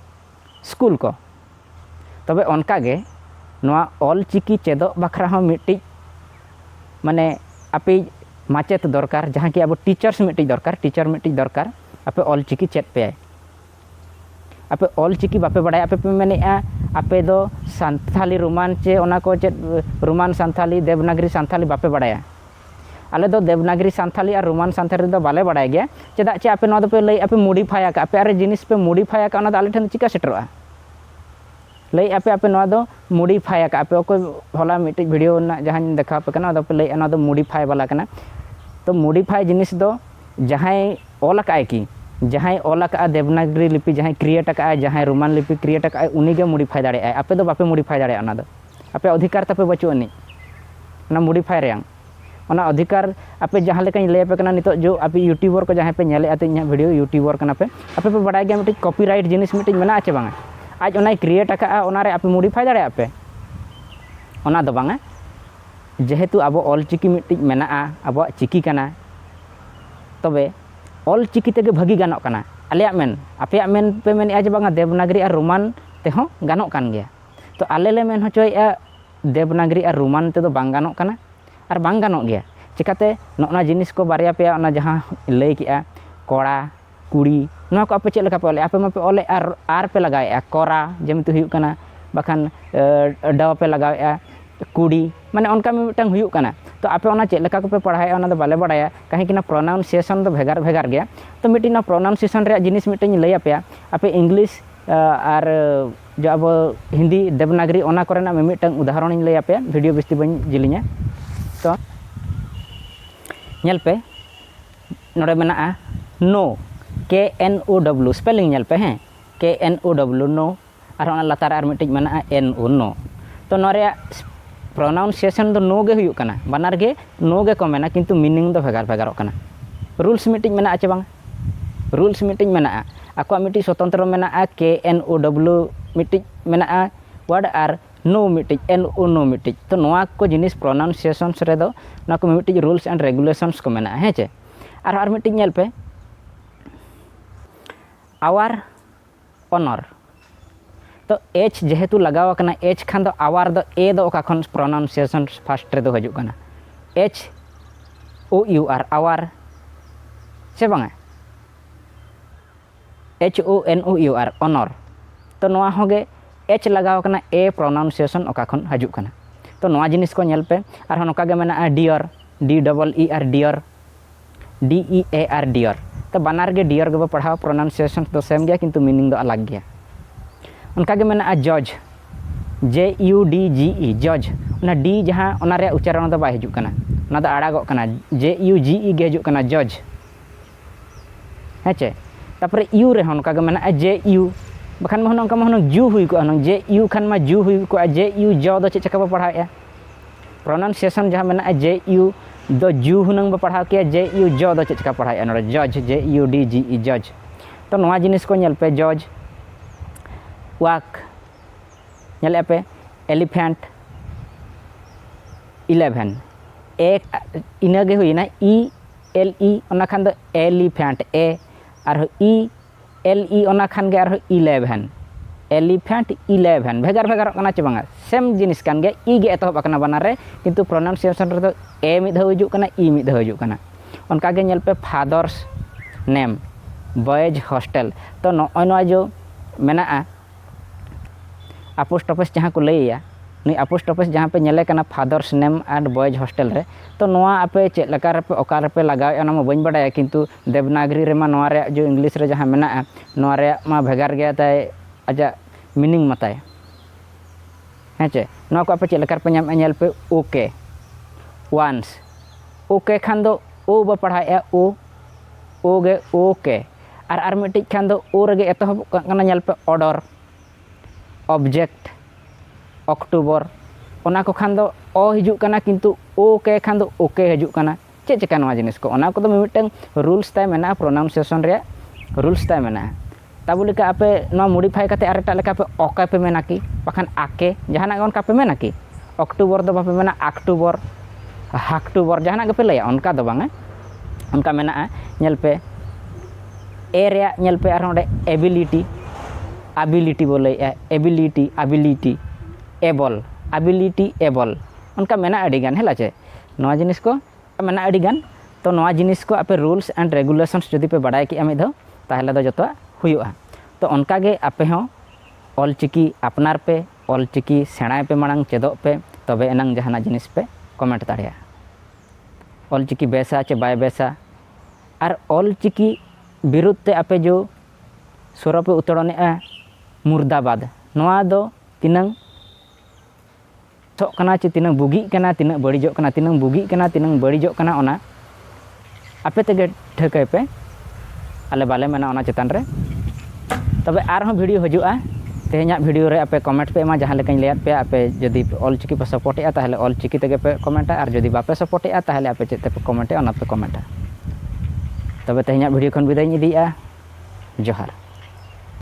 ᱥᱠᱩᱞ ᱠᱚ᱾ ᱛᱚᱵᱮ ᱚᱱᱠᱟ ᱜᱮ ᱱᱚᱣᱟ ᱚᱞ ᱪᱤᱠᱤ ᱪᱮᱫᱚᱜ ᱵᱟᱠᱷᱨᱟ ᱦᱚᱸ ᱢᱤᱫᱴᱤᱡ ᱢᱟᱱᱮ ᱟᱯᱮᱭᱤᱡ ᱢᱟᱪᱮᱛ ᱫᱚᱨᱠᱟᱨ ᱡᱟᱦᱟᱸ ᱠᱤ ᱟᱵᱚ ᱴᱤᱪᱟᱨᱥ ᱢᱤᱫᱴᱤᱡ ᱫᱚᱨᱠᱟᱨ ᱴᱤᱪᱟᱨ ᱢᱤᱫᱴᱤᱡ ᱫᱚᱨᱠᱟᱨ ᱟᱯᱮ ᱚᱞ ᱪᱤᱠᱤ ᱪᱮᱫ ᱯᱮᱭᱟᱭ᱾ ᱟᱯᱮ ᱚᱞ ᱪᱤᱠᱤ ᱵᱟᱯᱮ ᱵᱟᱰᱟᱭᱟ ᱟᱯᱮ ᱯᱮ ᱢᱮᱱᱮᱜᱼᱟ ᱟᱯᱮ ᱫᱚ ᱥᱟᱱᱛᱷᱟᱞᱤ ᱨᱳᱢᱟᱱ ᱪᱮ ᱚᱱᱟ ᱠᱚ ᱪᱮᱫ ᱨᱳᱢᱟᱱ ᱥᱟᱱᱛᱷᱟᱞᱤ ᱫᱮᱵᱽᱱᱟᱜᱽᱨᱤ ᱥᱟᱱᱛᱷᱟᱞᱤ ᱵᱟᱯᱮ ᱵᱟᱰᱟᱭᱟ᱾ ᱟᱞᱮ ᱫᱚ ᱫᱮᱵᱽᱱᱟᱜᱽᱨᱤ ᱥᱟᱱᱛᱷᱟᱞᱤ ᱟᱨ ᱨᱳᱢᱟᱱ ᱥᱟᱱᱛᱷᱟᱞᱤ ᱫᱚ ᱵᱟᱞᱮ ᱵᱟᱲᱟᱭ ᱜᱮᱭᱟ ᱪᱮᱫᱟᱜ ᱪᱮ ᱟᱯᱮ ᱱᱚᱣᱟ ᱫᱚᱯᱮ ᱞᱟᱹᱭ ᱟᱯᱮ ᱢᱚᱰᱤᱯᱷᱟᱭ ᱟᱠᱟᱫ ᱟᱯᱮ ᱟᱨ ᱡᱤᱱᱤᱥ ᱯᱮ ᱢᱚᱰᱤᱯᱷᱟᱭ ᱟᱠᱟᱫ ᱚᱱᱟ ᱫᱚ ᱟᱞᱮ ᱴᱷᱮᱱ ᱫᱚ ᱪᱤᱠᱟᱹ ᱥᱮᱴᱮᱨᱚᱜᱼᱟ ᱞᱟᱹᱭ ᱟᱯᱮ ᱟᱯᱮ ᱱᱚᱣᱟ ᱫᱚ ᱢᱚᱰᱤᱯᱷᱟᱭ ᱟᱠᱟᱫ ᱟᱯᱮ ᱚᱠᱚᱭ ᱦᱚᱞᱟ ᱢᱤᱫᱴᱤᱡ ᱵᱷᱤᱰᱤᱭᱳ ᱨᱮᱱᱟᱜ ᱡᱟᱦᱟᱸᱧ ᱫᱮᱠᱷᱟᱣ ᱟᱯᱮ ᱠᱟᱱᱟ ᱚᱱᱟ ᱫᱚᱯᱮ ᱞᱟᱹᱭᱮᱫᱼᱟ ᱱᱚᱣᱟ ᱫᱚ ᱢᱚᱰᱤᱯᱷᱟᱭ ᱵᱟᱞᱟ ᱠᱟᱱᱟ ᱛᱚ ᱢᱚᱰᱤᱯᱷᱟᱭ ᱡᱤᱱᱤᱥ ᱫᱚ ᱡᱟᱦᱟᱸᱭ ᱚᱞ ᱟᱠᱟᱫᱼᱟᱭ ᱠᱤ ᱡᱟᱦᱟᱸᱭ ᱚᱞ ᱟᱠᱟᱫᱼᱟ ᱫᱮᱵᱽᱱᱟᱜᱽᱨᱤ ᱞᱤᱯᱤ ᱡᱟᱦᱟᱸᱭ ᱠᱨᱤᱭᱮᱴ ᱟᱠᱟᱫᱼᱟᱭ ᱡᱟᱦᱟᱸᱭ ᱨᱳᱢᱟᱱ ᱞᱤᱯᱤ ᱠᱨᱤᱭᱮᱴ ᱟᱠᱟᱫᱼᱟᱭ ᱩᱱᱤᱜᱮ ᱢᱚᱰᱤᱯᱷᱟᱭ ᱫᱟᱲᱮᱭᱟᱜᱼᱟᱭ ᱟᱯᱮ ᱫᱚ ᱵᱟᱯᱮ ᱢᱚᱰᱤᱯᱷᱟᱭ ᱫᱟᱲᱮᱭᱟᱜᱼᱟ ᱚᱱᱟ ᱫᱚ ᱟᱯᱮᱭᱟᱜ ᱚᱫᱷᱤᱠᱟᱨ ᱛᱟᱯᱮ ᱵᱟᱹᱪᱩᱜ ᱟᱹᱱᱤᱡ ᱚᱱᱟ ᱢᱚᱰᱤᱯᱷᱟᱭ ᱨᱮᱭᱟᱝ ᱚᱱᱟ ᱚᱫᱷᱤᱠᱟᱨ ᱟᱯᱮ ᱡᱟᱦᱟᱸ ᱞᱮᱠᱟᱧ ᱞᱟᱹᱭ ᱟᱯᱮ ᱠᱟᱱᱟ ᱱᱤᱛᱚᱜ ᱡᱚ ᱟᱯᱮ ᱤᱭᱩᱴᱩᱵᱚᱨ ᱠᱚ ᱡᱟᱦᱟᱸᱭ ᱯᱮ ᱧᱮᱞᱮᱫᱼᱟ ᱛᱚ ᱤᱧᱟᱹᱜ ᱵᱷᱤᱰᱤᱭᱳ ᱤᱭᱩᱴᱩᱵᱚᱨ ᱠᱟᱱᱟ ᱯᱮ ᱟᱯᱮ ᱯᱮ ᱵᱟᱰᱟᱭ ᱜᱮᱭᱟ ᱢᱤᱫᱴᱤᱡ ᱠᱚᱯᱤᱨᱟᱭᱤᱴ ᱡᱤᱱᱤᱥ ᱢᱤᱫᱴᱤᱡ ᱢᱮᱱᱟᱜᱼᱟ ᱪᱮ ᱵᱟᱝᱟ ᱟᱡ ᱚᱱᱟᱭ ᱠᱨᱤᱭᱮᱴ ᱟᱠᱟᱫᱼᱟ ᱚᱱᱟᱨᱮ ᱟᱯᱮ ᱢᱚᱰᱤᱯᱷᱟᱭ ᱫᱟᱲᱮᱭᱟᱜᱼᱟ ᱯᱮ ᱚᱱᱟ ᱫᱚ ᱵᱟᱝᱟ ᱡᱮᱦᱮᱛᱩ ᱟᱵᱚ ᱚᱞ ᱪᱤᱠᱤ ᱢᱤᱫᱴᱤᱡ ᱢᱮᱱᱟᱜᱼᱟ ᱟᱵᱚᱣᱟᱜ ᱪᱤᱠᱤ ᱠᱟᱱᱟ ᱛᱚᱵᱮ ᱚᱞ ᱪᱤᱠᱤ ᱛᱮᱜᱮ ᱵᱷᱟᱹᱜᱤ ᱜᱟᱱᱚᱜ ᱠᱟᱱᱟ ᱟᱞᱮᱭᱟᱜ ᱢᱮᱱ ᱟᱯᱮᱭᱟᱜ ᱢᱮᱱ ᱯᱮ ᱢᱮᱱᱮᱫᱼᱟ ᱡᱮ ᱵᱟᱝᱟ ᱫᱮᱵᱽᱱᱟᱜᱚᱨᱤ ᱟᱨ ᱨᱳᱢᱟᱱ ᱛᱮᱦᱚᱸ ᱜᱟᱱᱚᱜ ᱠᱟᱱ ᱜᱮᱭᱟ ᱛᱚ ᱟᱞᱮ ᱞᱮ ᱢᱮᱱ ᱦᱚᱪᱚᱭᱮᱫᱼᱟ ᱫᱮᱵᱽᱱᱟᱜᱽᱨᱤ ᱟᱨ ᱨᱳᱢᱟᱱ ᱛᱮᱫᱚ ᱵᱟᱝ ᱜᱟᱱᱚᱜ ᱠᱟᱱᱟ ᱟᱨ ᱵᱟᱝ ᱜᱟᱱᱚᱜ ᱜᱮᱭᱟ ᱪᱤᱠᱟᱹᱛᱮ ᱱᱚᱜᱼᱚ ᱱᱚᱣᱟ ᱡᱤᱱᱤᱥ ᱠᱚ ᱵᱟᱨᱭᱟ ᱯᱮᱭᱟ ᱚᱱᱟ ᱡᱟᱦᱟᱸ ᱞᱟᱹᱭ ᱠᱮᱫᱼᱟ ᱠᱚᱲᱟ ᱠᱩᱲᱤ ᱱᱚᱣᱟ ᱠᱚ ᱟᱯᱮ ᱪᱮᱫ ᱞᱮᱠᱟ ᱯᱮ ᱚᱞᱮᱫᱼᱟ ᱟᱯᱮ ᱢᱟᱯᱮ ᱚᱞᱮᱫᱼᱟ ᱟᱨ ᱟᱨ ᱯᱮ ᱞᱟᱜᱟᱣᱮᱫᱼᱟ ᱠᱚᱨᱟ ᱡᱮᱢᱤᱛᱤ ᱦᱩᱭᱩᱜ ᱠᱟᱱᱟ ᱵᱟᱠᱷᱟᱱ ᱰᱚ ᱯᱮ ᱞᱟᱜᱟᱣᱮᱫᱼᱟ ᱠᱩᱲᱤ ᱢᱟᱱᱮ ᱚᱱᱠᱟ ᱢᱤᱫᱴᱟᱝ ᱦᱩᱭᱩᱜ ᱠᱟᱱᱟ ᱛᱚ ᱟᱯᱮ ᱚᱱᱟ ᱪᱮᱫ ᱞᱮᱠᱟ ᱠᱚᱯᱮ ᱯᱟᱲᱦᱟᱣᱮᱫᱼᱟ ᱚᱱᱟ ᱫᱚ ᱵᱟᱞᱮ ᱵᱟᱲᱟᱭᱟ ᱠᱟᱹᱦᱤ ᱠᱤᱱᱟ ᱯᱨᱚᱱᱟᱣᱩᱱᱥᱤᱭᱮᱥᱚᱱ ᱫᱚ ᱵᱷᱮᱜᱟᱨ ᱵᱷᱮᱜᱟᱨ ᱜᱮᱭᱟ ᱛᱚ ᱢᱤᱫᱴᱤᱡ ᱱᱚᱣᱟ ᱯᱨᱚᱱᱟᱣᱩᱱᱥᱤᱭᱮᱥᱚᱱ ᱨᱮᱭᱟᱜ ᱡᱤᱱᱤᱥ ᱢᱤᱫᱴᱤᱡ ᱤᱧ ᱞᱟᱹᱭ ᱟᱯᱮᱭᱟ ᱟᱯᱮ ᱤᱝᱞᱤᱥ ᱟᱨ ᱡᱮ ᱟᱵᱚ ᱦᱤᱱᱫᱤ ᱫᱮᱵᱽᱱᱟᱜᱽᱨᱤ ᱚᱱᱟ ᱠᱚᱨᱮᱱᱟᱜ ᱢᱤᱢᱤᱫᱴᱟᱝ ᱩᱫᱟᱦᱚᱨᱚᱱᱤᱧ ᱞᱟᱹᱭ ᱟᱯᱮᱭᱟ ᱵᱷᱤᱰᱤᱭᱳ ᱵᱮᱥᱛᱤ ᱵᱟᱹᱧ ᱡᱤᱞᱤᱧᱟ ᱛᱚ ᱧᱮᱞ ᱯᱮ ᱱᱚᱰᱮ ᱢᱮᱱᱟᱜᱼᱟ ᱱᱳ ᱠᱮ ᱮᱱ ᱳ ᱰᱟᱵᱽᱞᱩ ᱥᱯᱮᱞᱤᱝ ᱧᱮᱞ ᱯᱮ ᱦᱮᱸ ᱠᱮ ᱮᱱ ᱳ ᱰᱟᱵᱽᱞᱩ ᱱᱳ ᱟᱨᱦᱚᱸ ᱚᱱᱟ ᱞᱟᱛᱟᱨ ᱨᱮ ᱟᱨ ᱢᱤᱫᱴᱤᱡ ᱢᱮᱱᱟᱜᱼᱟ ᱮᱱ ᱳ ᱱᱳ ᱛᱚ ᱱᱚᱣᱟ ᱨᱮᱭᱟᱜ ᱯᱨᱚᱱᱟᱣᱩᱱᱥᱤᱭᱮᱥᱚᱱ ᱫᱚ ᱱᱳ ᱜᱮ ᱦᱩᱭᱩᱜ ᱠᱟᱱᱟ ᱵᱟᱱᱟᱨ ᱜᱮ ᱱᱳ ᱜᱮᱠᱚ ᱢᱮᱱᱟ ᱠᱤᱱᱛᱩ ᱢᱤᱱᱤᱝ ᱫᱚ ᱵᱷᱮᱜᱟᱨ ᱵᱷᱮᱜᱟᱨᱚᱜ ᱠᱟᱱᱟ ᱨᱩᱞᱥ ᱢᱤᱫᱴᱤᱡ ᱢᱮᱱᱟᱜᱼᱟ ᱪᱮ ᱵᱟᱝ ᱨᱩᱞᱥ ᱢᱤᱫᱴᱤᱡ ᱢᱮᱱᱟᱜᱼᱟ ᱟᱠᱚᱣᱟᱜ ᱢᱤᱫᱴᱤᱡ ᱥᱚᱛᱚᱱᱛᱨᱚ ᱢᱮᱱᱟᱜᱼᱟ ᱠᱮ ᱮᱱ ᱳ ᱰᱚᱵᱞᱩ ᱢᱤᱫᱴᱤᱡ ᱢᱮᱱᱟᱜᱼᱟ ᱳᱣᱟᱨᱰ ᱟᱨ ᱱᱳ ᱢᱤᱫᱴᱤᱡ ᱮᱱ ᱳ ᱱᱳ ᱢᱤᱫᱴᱤᱡ ᱛᱚ ᱱᱚᱣᱟ ᱠᱚ ᱡᱤᱱᱤᱥ ᱯᱨᱚᱱᱟᱣᱩᱱᱥᱤᱭᱮᱥᱚᱱᱥ ᱨᱮᱫᱚ ᱱᱚᱣᱟ ᱠᱚ ᱢᱤᱫᱴᱤᱡ ᱨᱩᱞᱥ ᱮᱱᱰ ᱨᱮᱜᱩᱞᱮᱥᱚᱱᱥ ᱠᱚ ᱢᱮᱱᱟᱜᱼᱟ ᱦᱮᱸ ᱪᱮ ᱟᱨ ᱟᱨ ᱢᱤᱫᱴᱤᱡ ᱧᱮᱞ ᱯᱮ ᱟᱣᱟᱨ ᱚᱱᱚᱨ ᱛᱚ ᱮᱪ ᱡᱮᱦᱮᱛᱩ ᱞᱟᱜᱟᱣ ᱟᱠᱟᱱᱟ ᱮᱪ ᱠᱷᱟᱱ ᱫᱚ ᱟᱣᱟᱨ ᱫᱚ ᱮ ᱫᱚ ᱚᱠᱟ ᱠᱷᱚᱱ ᱯᱨᱚᱱᱟᱣᱩᱱᱥᱤᱭᱮᱥᱚᱱ ᱯᱷᱟᱥᱴ ᱨᱮᱫᱚ ᱦᱤᱡᱩᱜ ᱠᱟᱱᱟ ᱮᱪ ᱳ ᱤᱭᱩ ᱟᱨ ᱟᱣᱟᱨ ᱥᱮ ᱵᱟᱝᱟ ᱮᱪ ᱳ ᱮᱱ ᱳ ᱤᱭᱩ ᱟᱨ ᱚᱱᱚᱨ ᱛᱚ ᱱᱚᱣᱟ ᱦᱚᱸᱜᱮ ᱮᱪ ᱞᱟᱜᱟᱣ ᱟᱠᱟᱱᱟ ᱮ ᱯᱨᱚᱱᱟᱣᱩᱱᱥᱤᱭᱮᱥᱚᱱ ᱚᱠᱟ ᱠᱷᱚᱱ ᱦᱤᱡᱩᱜ ᱠᱟᱱᱟ ᱛᱚ ᱱᱚᱣᱟ ᱡᱤᱱᱤᱥ ᱠᱚ ᱧᱮᱞ ᱯᱮ ᱟᱨᱦᱚᱸ ᱱᱚᱝᱠᱟ ᱜᱮ ᱢᱮᱱᱟᱜᱼᱟ deer D double E R dear D E A R dear ᱛᱚ ᱵᱟᱱᱟᱨ ᱜᱮ ᱰᱤᱭᱚᱨ ᱜᱮᱵᱚ ᱯᱟᱲᱦᱟᱣᱟ ᱯᱨᱚᱱᱟᱣᱩᱱᱥᱤᱭᱮᱥᱚᱱ ᱫᱚ ᱥᱮᱢ ᱜᱮᱭᱟ ᱠᱤᱱᱛᱩ ᱢᱤᱱᱤᱝ ᱫᱚ ᱟᱞᱟᱜᱽ ᱜᱮᱭᱟ ᱚᱱᱠᱟ ᱜᱮ ᱢᱮᱱᱟᱜᱼᱟ ᱡᱚᱡᱽ ᱡᱮ ᱤᱭᱩ ᱰᱤ ᱡᱤ ᱤ ᱡᱚᱡᱽ ᱚᱱᱟ ᱰᱤ ᱡᱟᱦᱟᱸ ᱚᱱᱟ ᱨᱮᱭᱟᱜ ᱩᱪᱪᱟᱨᱚᱱ ᱫᱚ ᱵᱟᱭ ᱦᱤᱡᱩᱜ ᱠᱟᱱᱟ ᱚᱱᱟ ᱫᱚ ᱟᱲᱟᱜᱚᱜ ᱠᱟᱱᱟ ᱡᱮ ᱤᱭᱩ ᱡᱤ ᱤ ᱜᱮ ᱦᱤᱡᱩᱜ ᱠᱟᱱᱟ ᱡᱚᱡᱽ ᱦᱮᱸ ᱪᱮ ᱛᱟᱨᱯᱚᱨᱮ ᱤᱭᱩ ᱨᱮᱦᱚᱸ ᱚᱱᱠᱟ ᱜᱮ ᱢᱮᱱᱟᱜᱼᱟ ᱡᱮ ᱤᱭᱩ ᱵᱟᱠᱷᱟᱱ ᱢᱟ ᱦᱩᱱᱟᱹᱝ ᱚᱱᱠᱟ ᱢᱟ ᱦᱩᱱᱟᱹᱝ ᱡᱩ ᱦᱩᱭ ᱠᱚᱜᱼᱟ ᱦᱩᱱᱟᱹᱝ ᱡᱮ ᱤᱭᱩ ᱠᱷᱟᱱ ᱢᱟ ᱡᱩ ᱦᱩᱭ ᱠᱚᱜᱼᱟ ᱡᱮ ᱤᱭᱩ ᱡᱚ ᱫᱚ ᱪᱮᱫ ᱪᱮᱠᱟ ᱵᱚ ᱯᱟᱲᱦᱟᱣᱮᱫᱼᱟ ᱯᱨᱚᱱᱟᱣᱩᱱᱥᱤᱭᱮᱥᱚᱱ ᱡᱟᱦᱟᱸ ᱢᱮᱱᱟᱜᱼᱟ ᱡᱮ ᱤᱭᱩ ᱫᱚ ᱡᱩ ᱦᱩᱱᱟᱹᱝ ᱵᱚ ᱯᱟᱲᱦᱟᱣ ᱠᱮᱭᱟ ᱡᱮ ᱤᱭᱩ ᱡᱚ ᱫᱚ ᱪᱮᱫ ᱪᱮᱠᱟ ᱯᱟᱲᱦᱟᱣᱮᱫᱼᱟ ᱱᱚᱰᱮ ᱡᱚᱡᱽ ᱡᱮ ᱤᱭᱩ ᱰᱤ ᱡᱤ ᱤ ᱡᱚᱡᱽ ᱛᱚ ᱱᱚᱣᱟ ᱡᱤᱱᱤᱥ ᱠᱚ ᱧᱮᱞ ᱯᱮ ᱡᱚᱡᱽ ᱣᱟᱠ ᱧᱮᱞᱮᱫᱼᱟ ᱯᱮ ᱮᱞᱤᱯᱷᱮᱱᱴ ᱤᱞᱮᱵᱷᱮᱱ ᱮ ᱤᱱᱟᱹᱜᱮ ᱦᱩᱭᱱᱟ ᱤ ᱮᱞ ᱤ ᱚᱱᱟ ᱠᱷᱟᱱ ᱫᱚ ᱮᱞᱤᱯᱷᱮᱱᱴ ᱮ ᱟᱨᱦᱚᱸ ᱤ ᱮᱞ ᱤ ᱚᱱᱟ ᱠᱷᱟᱱ ᱜᱮ ᱟᱨᱦᱚᱸ ᱤᱞᱮᱵᱷᱮᱱ ᱮᱞᱤᱯᱷᱮᱱᱴ ᱤᱞᱮᱵᱷᱮᱱ ᱵᱷᱮᱜᱟᱨ ᱵᱷᱮᱜᱟᱨᱚᱜ ᱠᱟᱱᱟ ᱪᱮ ᱵᱟᱝᱟ ᱥᱮᱢ ᱡᱤᱱᱤᱥ ᱠᱟᱱ ᱜᱮᱭᱟ ᱤ ᱜᱮ ᱮᱛᱚᱦᱚᱵ ᱟᱠᱟᱱᱟ ᱵᱟᱱᱟᱨ ᱨᱮ ᱠᱤᱱᱛᱩ ᱯᱨᱚᱱᱟᱣᱩᱱᱥᱤᱭᱮᱥᱚᱱ ᱨᱮᱫᱚ ᱮ ᱢᱤᱫ ᱫᱷᱟᱣ ᱦᱤᱡᱩᱜ ᱠᱟᱱᱟ ᱤ ᱢᱤᱫ ᱫᱷᱟᱣ ᱦᱤᱡᱩᱜ ᱠᱟᱱᱟ ᱚᱱᱠᱟ ᱜᱮ ᱧᱮᱞ ᱯᱮ ᱯᱷᱟᱫᱚᱨᱥ ᱱᱮᱢ ᱵᱚᱭᱮᱡᱽ ᱦᱳᱥᱴᱮᱞ ᱛᱚ ᱱᱚᱜᱼᱚᱭ ᱱᱚᱣᱟ ᱡᱮ ᱢᱮᱱᱟᱜᱼᱟ ᱟᱯᱳᱥᱴ ᱚᱯᱷᱤᱥ ᱡᱟᱦᱟᱸ ᱠᱚ ᱞᱟᱹᱭᱮᱭᱟ ᱱᱩᱭ ᱟᱯᱳᱥᱴ ᱚᱯᱷᱤᱥ ᱡᱟᱦᱟᱸ ᱯᱮ ᱧᱮᱞᱮ ᱠᱟᱱᱟ ᱯᱷᱟᱫᱚᱨᱥ ᱱᱮᱢ ᱟᱨ ᱵᱚᱭᱮᱡᱽ ᱦᱳᱥᱴᱮᱞ ᱨᱮ ᱛᱚ ᱱᱚᱣᱟ ᱟᱯᱮ ᱪᱮᱫ ᱞᱮᱠᱟ ᱨᱮᱯᱮ ᱚᱠᱟ ᱨᱮᱯᱮ ᱞᱟᱜᱟᱣᱮᱫᱼᱟ ᱚᱱᱟ ᱢᱟ ᱵᱟᱹᱧ ᱵᱟᱰᱟᱭᱟ ᱠᱤᱱᱛᱩ ᱫᱮᱵᱽᱱᱟᱜᱽᱨᱤ ᱨᱮᱢᱟ ᱱᱚᱣᱟ ᱨᱮᱭᱟᱜ ᱡᱮ ᱤᱝᱞᱤᱥ ᱨᱮ ᱡᱟᱦᱟᱸ ᱢᱮᱱᱟᱜᱼᱟ ᱱᱚᱣᱟ ᱨᱮᱭᱟᱜ ᱢᱟ ᱵᱷᱮᱜᱟᱨ ᱜᱮᱭᱟ ᱛᱟᱭ ᱟᱡᱟᱜ ᱢᱤᱱᱤᱝ ᱢᱟᱛᱟᱭ ᱦᱮᱸ ᱪᱮ ᱱᱚᱣᱟ ᱠᱚ ᱟᱯᱮ ᱪᱮᱫ ᱞᱮᱠᱟ ᱨᱮᱯᱮ ᱧᱟᱢᱮᱫᱼᱟ ᱧᱮᱞ ᱯᱮ ᱳᱠᱮ ᱚᱣᱟᱱᱥ ᱳᱠᱮ ᱠᱷᱟᱱ ᱫᱚ ᱳ ᱵᱚ ᱯᱟᱲᱦᱟᱣᱮᱫᱼᱟ ᱳ ᱳ ᱜᱮ ᱳᱠᱮ ᱟᱨ ᱟᱨ ᱢᱤᱫᱴᱤᱡ ᱠᱷᱟᱱ ᱫᱚ ᱳ ᱨᱮᱜᱮ ᱮᱛᱚᱦᱚᱵᱚᱜ ᱠᱟᱱᱟ ᱧᱮᱞ ᱯᱮ ᱚᱰᱚᱨ ᱚᱵᱽᱡᱮᱠᱴ ᱚᱠᱴᱳᱵᱚᱨ ᱚᱱᱟ ᱠᱚ ᱠᱷᱟᱱ ᱫᱚ ᱚ ᱦᱤᱡᱩᱜ ᱠᱟᱱᱟ ᱠᱤᱱᱛᱩ ᱳ ᱠᱮ ᱠᱷᱟᱱ ᱫᱚ ᱳᱠᱮ ᱦᱤᱡᱩᱜ ᱠᱟᱱᱟ ᱪᱮᱫ ᱪᱮᱠᱟ ᱱᱚᱣᱟ ᱡᱤᱱᱤᱥ ᱠᱚ ᱚᱱᱟ ᱠᱚᱫᱚ ᱢᱤᱢᱤᱫᱴᱟᱝ ᱨᱩᱞᱥ ᱛᱟᱭ ᱢᱮᱱᱟᱜᱼᱟ ᱯᱨᱚᱱᱟᱣᱩᱱᱥᱤᱭᱮᱥᱚᱱ ᱨᱮᱭᱟᱜ ᱨᱩᱞᱥ ᱛᱟᱭ ᱢᱮᱱᱟᱜᱼᱟ ᱛᱟᱵᱚ ᱞᱮᱠᱟ ᱟᱯᱮ ᱱᱚᱣᱟ ᱢᱚᱰᱤᱯᱷᱟᱭ ᱠᱟᱛᱮ ᱟᱨ ᱮᱴᱟᱜ ᱞᱮᱠᱟ ᱯᱮ ᱚᱠᱮ ᱯᱮ ᱢᱮᱱᱟ ᱠᱤ ᱵᱟᱠᱷᱟᱱ ᱟᱠᱮ ᱡᱟᱦᱟᱱᱟᱜ ᱜᱮ ᱚᱱᱠᱟ ᱯᱮ ᱢᱮᱱᱟ ᱠᱤ ᱚᱠᱴᱳᱵᱚᱨ ᱫᱚ ᱵᱟᱯᱮ ᱢᱮᱱᱟ ᱟᱠᱴᱳᱵᱚᱨ ᱦᱟᱠᱴᱳᱵᱚᱨ ᱡᱟᱦᱟᱱᱟᱜ ᱜᱮᱯᱮ ᱞᱟᱹᱭᱟ ᱚᱱᱠᱟ ᱫᱚ ᱵᱟᱝᱟ ᱚᱱᱠᱟ ᱢᱮᱱᱟᱜᱼᱟ ᱧᱮᱞ ᱯᱮ ᱮ ᱨᱮᱭᱟᱜ ᱧᱮᱞ ᱯᱮ ᱟᱨᱦᱚᱸ ᱚᱸᱰᱮ ᱮᱵᱤᱞᱤᱴᱤ ᱟᱵᱤᱞᱤᱴᱤ ᱵᱚᱱ ᱞᱟᱹᱭᱮᱫᱼᱟ ᱮᱵᱤᱞᱤᱴᱤ ᱟᱵᱤᱞᱤᱴᱤ ᱮᱵᱚᱞ ᱟᱵᱤᱞᱤᱴᱤ ᱮᱵᱚᱞ ᱚᱱᱠᱟ ᱢᱮᱱᱟᱜᱼᱟ ᱟᱹᱰᱤᱜᱟᱱ ᱦᱮᱸ ᱞᱟᱪᱮ ᱱᱚᱣᱟ ᱡᱤᱱᱤᱥ ᱠᱚ ᱢᱮᱱᱟᱜᱼᱟ ᱟᱹᱰᱤᱜᱟᱱ ᱛᱚ ᱱᱚᱣᱟ ᱡᱤᱱᱤᱥ ᱠᱚ ᱟᱯᱮ ᱨᱩᱞᱥ ᱮᱱᱰ ᱨᱮᱜᱩᱞᱮᱥᱚᱱᱥ ᱡᱩᱫᱤ ᱯᱮ ᱵᱟᱲᱟᱭ ᱠᱮᱜᱼᱟ ᱢᱤᱫ ᱫᱷᱟᱣ ᱛᱟᱦᱚᱞᱮ ᱫᱚ ᱡᱚᱛᱚᱣᱟᱜ ᱦᱩᱭᱩᱜᱼᱟ ᱛᱚ ᱚᱱᱠᱟᱜᱮ ᱟᱯᱮ ᱦᱚᱸ ᱚᱞᱪᱤᱠᱤ ᱟᱯᱱᱟᱨ ᱯᱮ ᱚᱞ ᱪᱤᱠᱤ ᱥᱮᱬᱟᱭ ᱯᱮ ᱢᱟᱲᱟᱝ ᱪᱮᱫᱚᱜ ᱯᱮ ᱛᱚᱵᱮ ᱮᱱᱟᱝ ᱡᱟᱦᱟᱱᱟᱜ ᱡᱤᱱᱤᱥ ᱯᱮ ᱠᱚᱢᱮᱱᱴ ᱫᱟᱲᱮᱭᱟᱜᱼᱟ ᱚᱞ ᱪᱤᱠᱤ ᱵᱮᱥᱟ ᱪᱮ ᱵᱟᱭ ᱵᱮᱥᱟ ᱟᱨ ᱚᱞ ᱪᱤᱠᱤ ᱵᱤᱨᱩᱫᱽ ᱛᱮ ᱟᱯᱮ ᱡᱚ ᱥᱚᱨᱚ ᱯᱮ ᱩᱛᱚᱲᱚᱱᱮᱜᱼᱟ ᱢᱩᱨᱫᱟᱵᱟᱫᱽ ᱱᱚᱣᱟ ᱫᱚ ᱛᱤᱱᱟᱹᱝ ᱛᱚᱜ ᱠᱟᱱᱟ ᱪᱮ ᱛᱤᱱᱟᱹᱝ ᱵᱩᱜᱤᱜ ᱠᱟᱱᱟ ᱛᱤᱱᱟᱹᱝ ᱵᱟᱹᱲᱤᱡᱚᱜ ᱠᱟᱱᱟ ᱛᱤᱱᱟᱹᱝ ᱵᱩᱜᱤᱜ ᱠᱟᱱᱟ ᱛᱤᱱᱟᱹᱝ ᱵᱟᱹᱲᱤᱡᱚᱜ ᱠᱟᱱᱟ ᱚᱱᱟ ᱟᱯᱮ ᱛᱮᱜᱮ ᱴᱷᱟᱹᱣᱠᱟᱹᱭ ᱯᱮ ᱟᱞᱮ ᱵᱟᱞᱮ ᱢᱮᱱᱟ ᱚᱱᱟ ᱪᱮᱛᱟᱱ ᱨᱮ ᱛᱚᱵᱮ ᱟᱨᱦᱚᱸ ᱵᱷᱤᱰᱤᱭᱳ ᱦᱤᱡᱩᱜᱼᱟ ᱛᱮᱦᱮᱧᱟᱜ ᱵᱷᱤᱰᱤᱭᱳ ᱨᱮ ᱟᱯᱮ ᱠᱚᱢᱮᱱᱴ ᱯᱮ ᱮᱢᱟ ᱡᱟᱦᱟᱸ ᱞᱮᱠᱟᱧ ᱞᱟᱹᱭᱟᱫ ᱯᱮᱭᱟ ᱟᱯᱮ ᱡᱩᱫᱤ ᱚᱞ ᱪᱤᱠᱤ ᱯᱮ ᱥᱟᱯᱳᱨᱴᱮᱜᱼᱟ ᱛᱟᱦᱚᱞᱮ ᱚᱞ ᱪᱤᱠᱤ ᱛᱮᱜᱮ ᱯᱮ ᱠᱚᱢᱮᱱᱴᱟ ᱟᱨ ᱡᱩᱫᱤ ᱵᱟᱯᱮ ᱥᱟᱯᱳᱨᱴᱮᱜᱼᱟ ᱛᱟᱦᱚᱞᱮ ᱟᱯᱮ ᱪᱮᱫ ᱛᱮᱯᱮ ᱠᱚᱢᱮᱱᱴᱮᱜᱼᱟ ᱚᱱᱟ ᱯᱮ ᱠᱚᱢᱮᱱᱴᱟ ᱛᱚᱵᱮ ᱛᱮᱦᱮᱧᱟᱜ ᱵᱷᱤᱰᱤᱭᱳ ᱠᱷᱚᱱ ᱵᱤᱫᱟᱹᱭᱤᱧ ᱤᱫᱤᱭᱮᱜᱼᱟ ᱡᱚᱦᱟᱨ